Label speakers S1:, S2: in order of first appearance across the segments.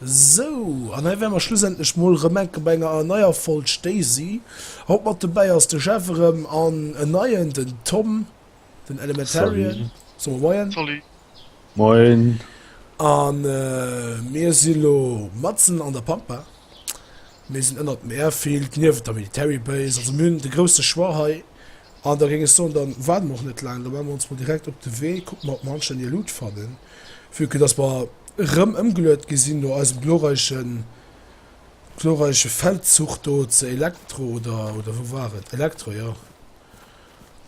S1: Sou, an hei wäre mer schlussendlech mol erëm enke bei enger neier Folg Stacey. Haut mat dobäi ass de Jeff erëm an en neien, den Tom, den Elementarian. Soe mer Moien. Salut.
S2: Moien.
S3: A
S1: mir si lo matzen an der Pampa. Mir sinn ënnert dem Airfield, niewent der Military Base. Also mir hunn de grousse Choix hei, An da géing ech soen, da waarde mer och net laang, da maache mer ons mol direkt op de Wee, kucke mer, ob mer anständig e Luut fannen, vue que dass mer erëm ëmgeluet gi sinn no eisem glorreiche, glorreiche Feldzuch do zur Elektro, oder, oder wou war et? Elektro, jo.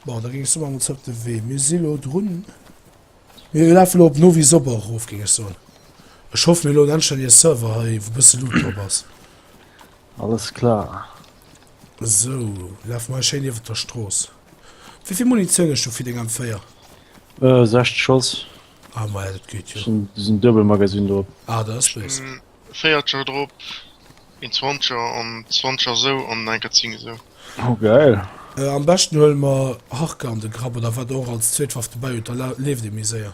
S1: Bon, da géing ech soen, maache mer ons op de Wee. Mir si lo drun. Mir lafe lo op Novi Sobor erof, géing ech soen. Ech hoffen elo en anstännege Server hei, wou e bësse Loot drop ass.
S3: Alles klar. Sou,
S1: laf mei schéin iwwert der Strooss. Wéivill Munitioun hues du fir deng M4? Äh,
S3: 60 Schoss. Ah, ma ja, dat
S1: geet jo. Ass en Duebelmagasinn
S3: drop. Ah, da ass lues. En
S1: Véiertscher drop,
S2: een Zwanzeger an Zwanzeger esou an eng Kéier Zing esou. Oh, geil.
S3: Am beschten
S1: huele mer Harke an de Grapp, oder wat der och als zweet Waff dobäi hutt, da leeft ee méi séier.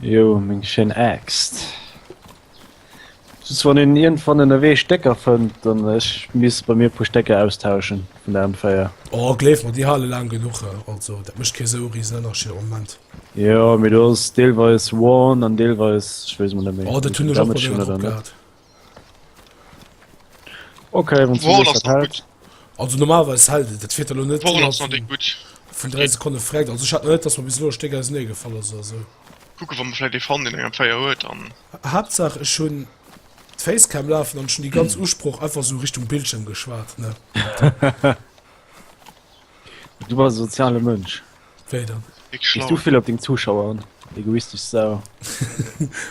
S1: Jo,
S3: meng schéin Aaxt. Just wann een iergendwann ënnerwee Stécker fënnt an ech misst bei mir e puer Stécker austauschen vun der M4. Oh, gleef mer, déi
S1: hale laang genuch. Also, dat mécht kee sou riesen Ënnerscheed am Moment. Jo, mee do ass
S3: deelweis worn an deelweis, ech weess emol net méi, Oh, dat hunn ech och mol wéi Damage drop hunn
S1: oder net. gehat.
S3: Okay, wenn Wall ass nach gut. Also
S2: normalerweise
S1: hält et, dat fehlt elo net. Wall ass nach net gut. Vun
S2: 3 Sekunde
S1: frägt, also ich hat net, dass man bis lo Stéck aus nee gefall ass oder so. Kucke wann man vielleicht
S2: e fand den enger Feier huet an. Hauptsache ich hun
S1: d'Facecam lafen an schon die ganz Usproch einfach so Richtung Bildschirm geschwat ne.
S3: du war soziale Mënsch. Wéi dann?
S1: Big Gis Schlauen. du vill op deng
S3: Zuschauer
S2: an,
S3: egoistesch Sau.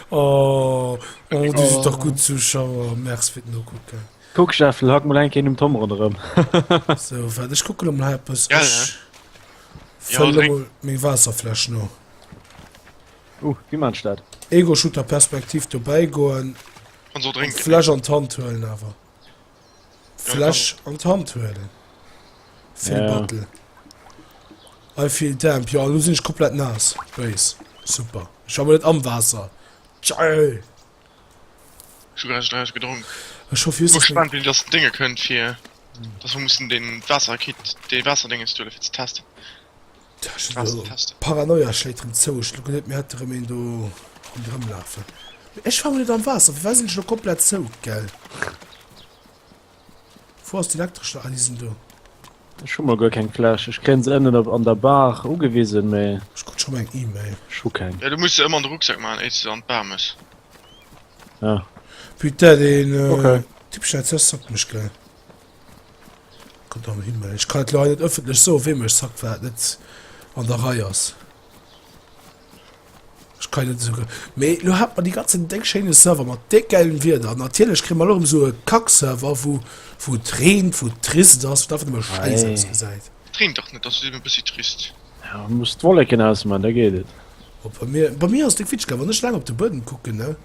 S3: Oh,
S1: oh, du sis dach gutt Zuschauer. Merc fir den Nokucken. Kuck Schäffel, hack
S3: mol eng Kéi nom Tom ronderëm. So,
S1: waart, ech kucke lo mol hei eppes. Gell, Ech Ja,
S2: fëllen lo drénk. mol meng
S1: Waasserfläsch no.
S3: Uh, wéi maan ech dat? Ego-Shooter-Perspektiv
S1: dobäigoen, Kann se och drénken.
S2: d'Fläsch an d'Hand huelen
S1: awer. Fläsch an d'Hand huelen. Phil ja. Bartel. I feel damp. Ja, lo sinn ech komplett nass. Bréis. Super. Ech war net am Waasser. Geil! Ech
S2: hu grad gedronk. Ech hoff just... gespannt,
S1: wéi dass
S2: Dinge kënnt, fir dass wir mussen den Waasserkit, de Waasserdénges do fir ze testen. Paranoia schléit
S1: rem zou, ech kucken net méi hat rem een do rondrem lafen. Ech war mol net am Waasser, firwat sinn ech lo komplett zou? Gell? Wou ass den Elektreschen? Ah déi sinn do. Ech hu mol guer
S3: keng Fläsch, ech kréien se ënnen op an der Bar ugewisen, mee. Ech krut scho mol eng Email.
S1: Ech hu keng. Jo du muss
S3: se ëmmer an de Rucksack
S2: maachen éiers de an d'Bar mëss. Ah.
S3: Putain
S1: deen Typ schneit
S3: sou sockmeg
S1: gell. Ech kann et leider net ëffentlech soen, wéi mech sackt, wat net an der Rei ass. Ech kann net esou. Mee lo hat mer déi ganzen déck schéine Server mat déck gäilen Wierder. Natierlech kréie mer elo erëm esou e Kack-Server, wou wou et reent, wou et trist ass, wou et einfach nëmme schäiss ausgesäit. Et reent
S3: dach
S1: net, ass just eben
S2: e bëssi trist. Jo, muss d'Wolleken
S3: ausman, da geet et. Op bei mir, bei mir
S1: ass et déck witg, well wann ech laang op de Buedem kucken, ne.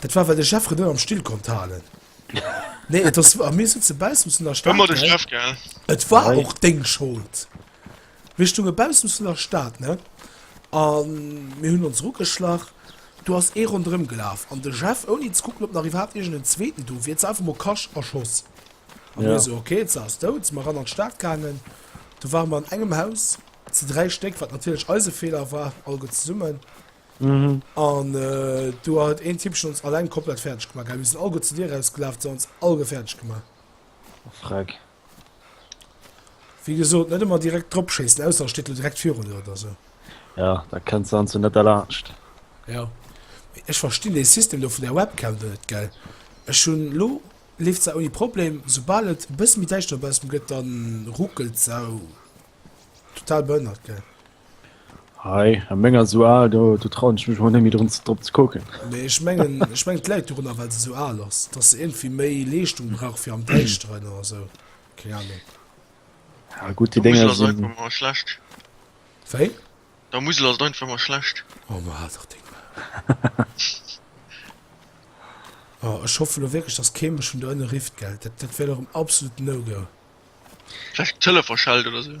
S1: Dat war well de Chef net am Still konnt halen. Nee et ass a mir sitze baussen vun der Stad. Ëmmer de Chef gell.
S2: Et
S1: war
S2: Hei. och
S1: deng Schold. Mir stounge baussen vun der Stad ne an mir hunn ons rugeschlach. Do ass ee ronderëm gelaf an de Chef ouni ze kucken ob nach iwwerhaapt iergend en zweeten do wier ze einfach mol kasch erschoss. A mir Ja. esou ok se ass
S3: dout.
S1: Si mer ran an d'Stad gaangen. Do ware mer an engem Haus ze dräi Stéck wat natierlech eise Feeler war alleguer zesummen.
S3: An
S1: do hat een Typ ons alleng komplett fäerdeg gemaach gehat. Mir sinn alleguer zu dir erausgelaf, se ons alleguer fäerdeg gemaach. Oh Freck. Wéi gesot, net ëmmer direkt dropschéissen, ausser e steet lo direkt virun der oder esou. Ja, da kënnt
S3: se anzwou net derlaanscht. Ja.
S1: Mee ech verstinn dee System do vun der Webcam do net, gell. Ech hunn, elo leeft se ouni Problem. Soubal et e bësse méi däischter dobaussen gëtt, da ruckelt se total behënnert, gell. Hei,
S3: a menger esou al, do, do trauen ech mech mol net méi drun ze, drop ze kucken. Mee ech mengen,
S1: ech mengen et läit dorunner well se esou al ass, dass se iergendwéi méi Leeschtung brauch fir am Däischteren oder esou, keng Ahnung. Ja
S3: gutt, déi Der Dinger Musel ass einfach sinn, emmer
S2: schlecht. Wéi?
S1: Der Musel
S2: ass einfach emmer schlecht. Oh, ma haal dach deng
S1: Maul. Oh, ech hoffe lo wierklech, dass kee mech vun do ënne rifft, gell? Dat, dat wär lo erëm absolut No-Go. Vläicht
S2: d'Tëlefer schellt oder esou.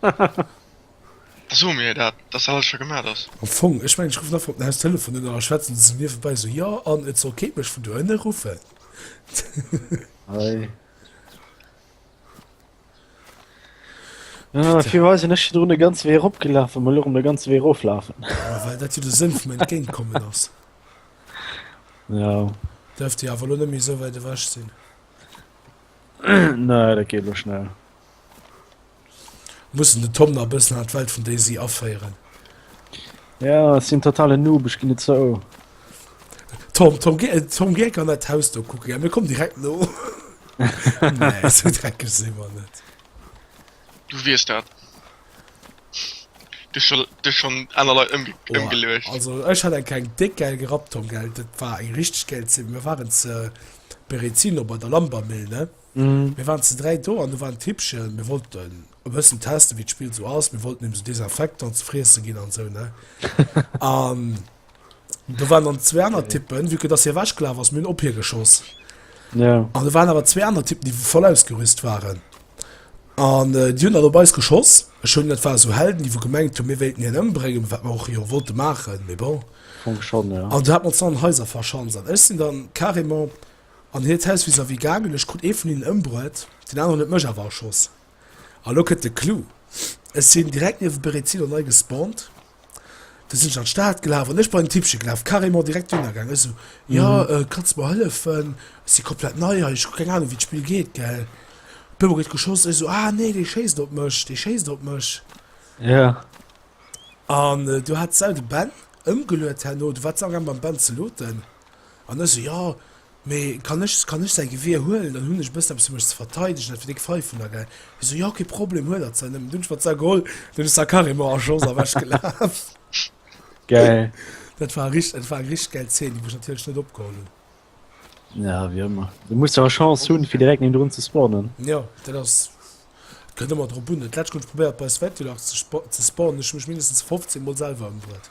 S2: Da soe mir dat, datt alles scho gemat ass. Am Fong, ech mengen, ech ruffen
S1: einfach op den Haustelefon un a schwätzen esou niewebäi esou, jo, an et soll kee mech vun do ënne ruffen.
S3: Bitte. Firwat ass en ech virdrun e ganze Wee eropgelafen an elo erëm de ganze Wee eroflafen? Ja, well dat jo de
S1: Sënn vum Entgéintkommen ass.
S3: Ja. Däerft
S1: Dir awer elo net méi esou wäit ewech sinn.
S3: Nee, dat geet elo schnell.
S1: Mussen den Tom nach bëssen an d'Welt vun Daisy aféieren.
S3: Ja, ech sinn totale Noob, ech ginn et zou.
S1: Tom, Tom, geh, Tom, geh an dat Haus do kucken. Ja, mir kommen direkt no. nee, so dreckig sinn wir net.
S2: Du wiest dat. Du schon, du schon aner Leit ëmge Boah, ëmgeleucht. Also ech hat eng keng
S1: déck geil gerappt, Tom, gell? Dat war eng richtig geil Szene. Wir waren zu Berezino bei der Lambermill, ne? Mir waren ze dräi do an do war en Tippchen. Mir wollten e bëssen testen, wéi d'Spill esou ass. Mir wollten him esou Desinfectant ze friessen ginn an esou, ne? An do waren dann zwee aner Typen, vu que dass hie ewechgelaf ass, mir hunn op hie geschoss. Ja.
S3: An do waren awer zwee
S1: aner Typen, déi voll ausgerüst waren. An äh, déi hunn dann op eis geschoss. Ech hunn, dat war so Helden, déi wou gemengt hunn, mir wéilten hien ëmbréngen, wat mir och jo wollte maachen, mee bon. Funk schon,
S3: ja. An du hat man an Häuser
S1: verschanz an ech sinn dann carrément An hiert Haus vis-à-vis gaangen. Ech krut ee vun hinnen ëmbruet, deen aneren huet mech awer erschoss. A lo kënnt de Clou, Ech sinn direkt niewent Berezino nei gespawnt, du sinn ech an d'Stad gelaf an ech bei den Typche gelaf, carrément direkt duerno gaangen. Ech sou, Jo, kanns mer hëllefen? Ech si komplett nei hei, ech hu keng Anung, wéi d'Spill geet, gell? Op eemol gëtt geschoss, ech sou, Ah, nee, dee schéisst op mech, dee schéisst op mech. An du hat sou de Ben ëmgeluet herno, du waars awer gaangen mam Ben ze looten. An ech sou, jo, mee kann ech, kann ech säi Gewier huelen? Dann hunn ech e bëssen eppes, fir mech ze verteidigen, dat fir déck Faif vun der Gäi. Hie sou, jo, kee Problem, huel hatt se nëmmen. Dunn hunn ech mer d'Sa geholl, an dunn ass d'Sa carrément en Schoss ewechgelaf.
S3: Gäil. Dat war
S1: richt-, dat war eng richteg gäil Zeen, déi mech natierlech net opgeholl hunn. Ja,
S3: wéi ëmmer. Du muss awer Chance hunn, fir direkt niewendrun ze spawnen. Jo, dat ass,
S1: et kënnt ëmmer drop un. Dat Lätschent hunn ech probéiert, bei Svetulach ze spa-, ze spawnen, ech hu mech mindestens 15 mol selwer ëmbruet.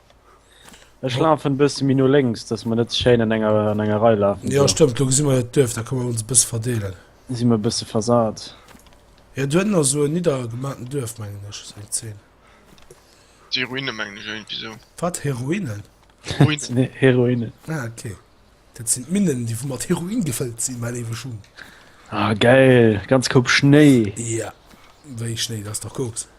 S3: Ech lafen bësse Min no lenks, dats mer net schéin an enger an enger Rei lafen. Ja stëmmt, lo gesi mer et
S1: duerf,
S3: da
S1: kënne mer ons e bësse verdeelen. Si mer e bësse
S3: versat. Ja do
S1: hënner sou en niddergemaaten Duerf mengen ech, sou eng 10.
S2: Déi Ruine mengen ech iergendwéi sou. Wat, Heroinen?
S1: Ruinen.
S2: Heroinen.
S3: Ah ok.
S1: Dat sinn d'Minnen, déi wou mat Heroin gefëllt sinn, mäi léiwe Schung. Ah geil,
S3: ganz Koup Schnéi. Ja,
S1: wéi Schnéi, dat ass dach Koks.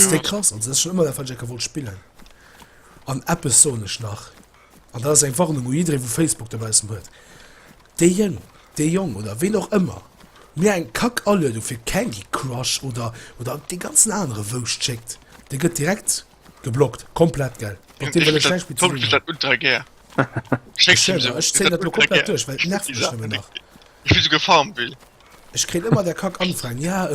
S1: Stéck krass an sech ëmmer der Verjecker wollt spillen an Appes sonech nach an da ass eng Warnung u jiddree wou Facebook dobaussen huet dee Jëng dee Jong oder ween och ëmmer mir eng Kack Aluedung fir Candy Crush oder oder dee ganzen anere Wouscht schéckt, dee gëtt direkt geblockt komplett gell mat deem wëll ech näischt méi ze dinn hunn. Ultra gär Ech zéien dat elo komplett duerch well et nervt mech nëmmen nach. Ech wéll souguer
S2: Farmville. Ech kréien ëmmer där
S1: Kack Anfragen, ja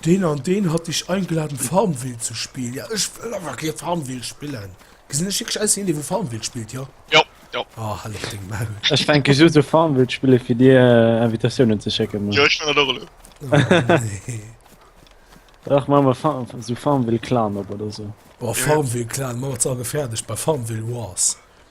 S1: deen an deen hat dech eingeladen Farmville ze spillen, ja ech wëll awer kee Farmville spillen. Gesinn ech wierklech aus wéi een dee wou Farmville spillt, jo? Jo, jo. Oh
S2: hal lech deng
S1: Maul. Ech fänke just u
S3: Farmville spillen fir dir Invitatiounen ze schécken Mann. Jo ech man dat och elo. Oh
S2: nee.
S3: Dach man mer Farm sou Farmville Clan op oder sou. Boah Farmville
S1: Clan man mer ze all gefährdesch bei Farmville Wars.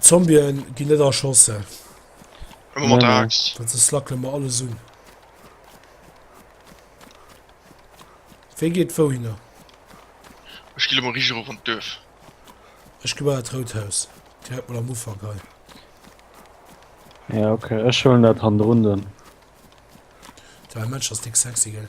S1: Zombien ginn net erschossen. Ëmmer
S2: mat der Axt. Dat se slackele
S3: mer
S2: alles
S1: un. Wee geet wou hinner?
S2: Ech gi lo mol richteg erof an d'Duerf. Ech gi
S1: bei dat rout Haus. Direkt mol am Ufank hei.
S3: Ja, okay. Ech huelen dat handerun dunn.
S1: Däi Match ass déck sexy, gell?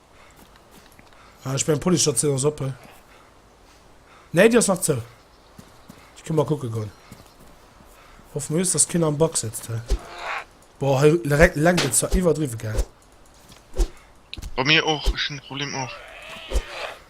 S1: Ah, ech mein Polisstation ass op, he? Nee, die ass nach zou. Ich kann mal gucken gehen. Hoffen wir, dass keiner am Back sitzt, he? Boah, he direkt lenkt es zwar überdriven, gell?
S2: Bei mir och, ech hun de Problem och.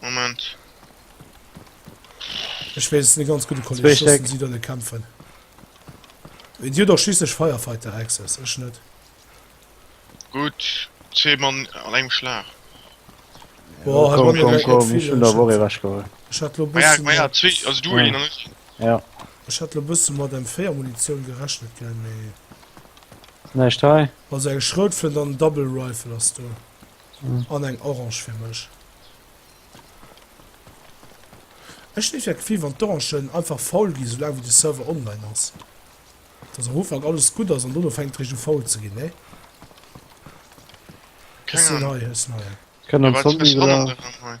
S2: Moment.
S1: Ech wees es net ganz gudd, de Kolleg schossen si dann e
S3: kämpfen.
S1: Di hun dach schliisslech Firefighter access, ech net. Gudd,
S2: zwee Mann an engem Schlag.
S1: Boah, hei bei mir
S3: wärt
S1: net vill,
S3: ech hat
S1: lo bessen
S2: Ech
S3: hat lo bessen
S1: mat M4 Munitioun gerechnet gell, mee.
S3: Näischt hei. Also eng Schroutflënt
S1: an en Double Rifle ass do. An
S3: eng Orange fir
S1: mech. Ech géif ja gefillt wann d'Orangen einfach faul gi soulaang wéi de Server online ass. Dass am Ufank alles gutt ass an dono fänkt richt u faul ze ginn nee. Ech sinn hei ech sinn hei.
S2: Kënn an Zombie gelaaf.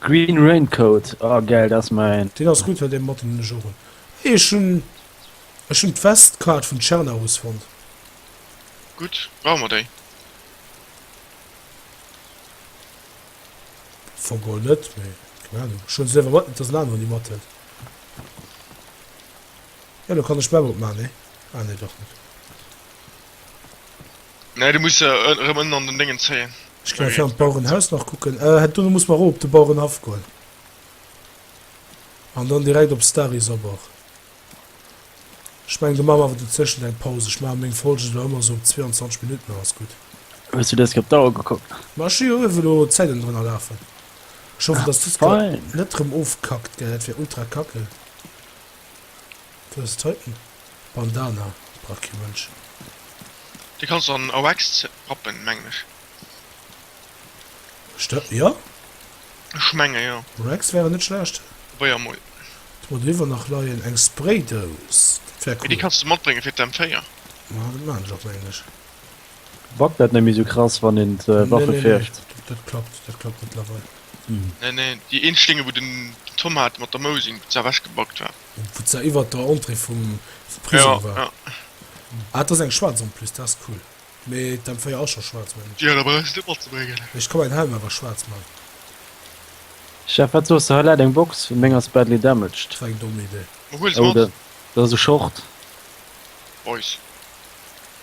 S1: Green
S3: Raincoat, oh geil, dat ass mäin. Deen ass gudd, well dee matten hun
S1: ech och un. Hey ech hun ech hun d'West Card vun Cernarus fonnt.
S2: Gudd, brauche mer déi?
S1: Fong och net, mee keng Ahnung, ech hun se léiwer mat, net dass en aneren déi mat huet. Jo, lo kann ech d'Map opmaachen, nee? Ah nee, dach net.
S2: Nee, du muss se erëm ënnen an den Déngen zéien. Ech ginn einfach am Bauerenhaus
S1: nach kucken. Ah, do muss mer erop op de Bauerenhaff goen. An dann direkt op Stary Sobor. Ech mengen, do maache mer awer dozwéschent eng Paus. Ech maache meng Folgen elo ëmmer sou op 22 Minutten an ass gutt. Hues du dëst Kee op
S3: d'Auer gekuckt? Ma ech hu jo ierwe lo
S1: d'Zäiten drënner lafen. Ech hoffen, dass dëst Kee net erëm
S3: ofkackt,
S1: gell? Dat wär ultra kacke. Du hues hei en Bandana, Bracky Mënschen.
S2: Dee kanns an Wax rappen, mengen ech.
S1: Ech dat, jo. Ech
S2: menge jo. Wax wär net schlecht.
S1: Probéier emol.
S2: Do huet eriwwer nach
S1: leien eng Spraydous, dat wär cool. Mee déi kanns de matbréngen fir d'M4.
S2: Ma dat
S1: maan
S2: ech och,
S1: mengen ech.
S3: Backt net méi sou krass wann een d'Waffe fécht. Dat klappt, dat
S1: klappt mëttlerweil. Nee nee,
S2: déi een Schlinge wou den Tom hat mat der Mousing, wou se ewech gebackt war. Wou se iwwert der
S1: Entrée vum Prisong war. Jo
S2: jo. Ah dat ass eng
S1: schwaarz en plus, dat ass cool. Mee d'M 4 ass scho schwaarz mengen ech. Jo da brauchs de net
S2: matzebréngen. Ech ka mäin Helm awer
S1: schwaarz man.
S3: Chef wat soss de, hei läit eng Box, meng ass badly damaged. Dat war eng domm Idee.
S1: Huel se mat.
S2: Dat ass e Short. Boys.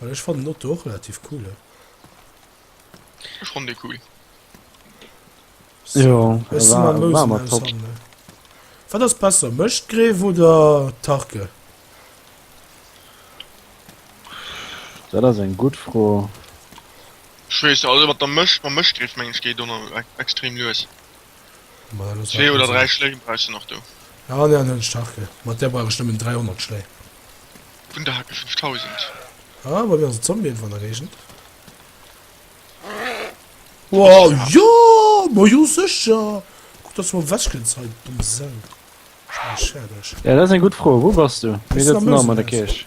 S1: Well ech fannen Otto och relativ cool hein.
S2: Ech fannen dee cool. Jo, e
S3: war mer
S1: top. Wat ass besser, Mëschtgreef oder Tarke?
S3: Dat ass eng gutt Fro.
S2: Ech weess net, also mat der Mëscht, mam Mëschtgreef meng ech geet ëmmer extrem lues.
S1: Zwee oder dräi Schléi brauchst du
S2: nach
S1: do.
S2: Ja, an den hunch
S1: Hacke. Mat der brauch ech nëmmen 300 Schléi. Vun der
S2: Hacke 5000. Ah, bei mir
S1: ass e Zombie ënnerwuer an der Géigend. Wow, jo! Ma jo, sécher! Guck, dass du mol wech kënns hei, du domm Sau. Ech mach dech fäerdeg. Ja, dat ass eng gutt Fro. Wou
S3: bass du? Mir sëtzen och am an der Kierch.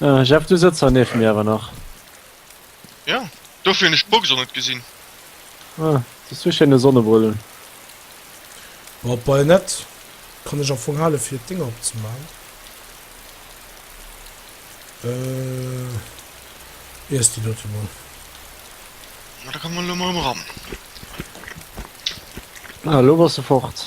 S3: Äh, Jeff, du sëtzer nieft mir awer nach. Ja,
S2: dofir hunn ech d'Box och net gesinn. Ah,
S3: du zu schéine Sonnebrillen.
S1: Op Bajonett kann ech am Fong hale fir d'Dinger opzemaachen. Äh, iess déi dote mol.
S2: Na, da komme lo mol um ran.
S3: Ah, lo bass de fort.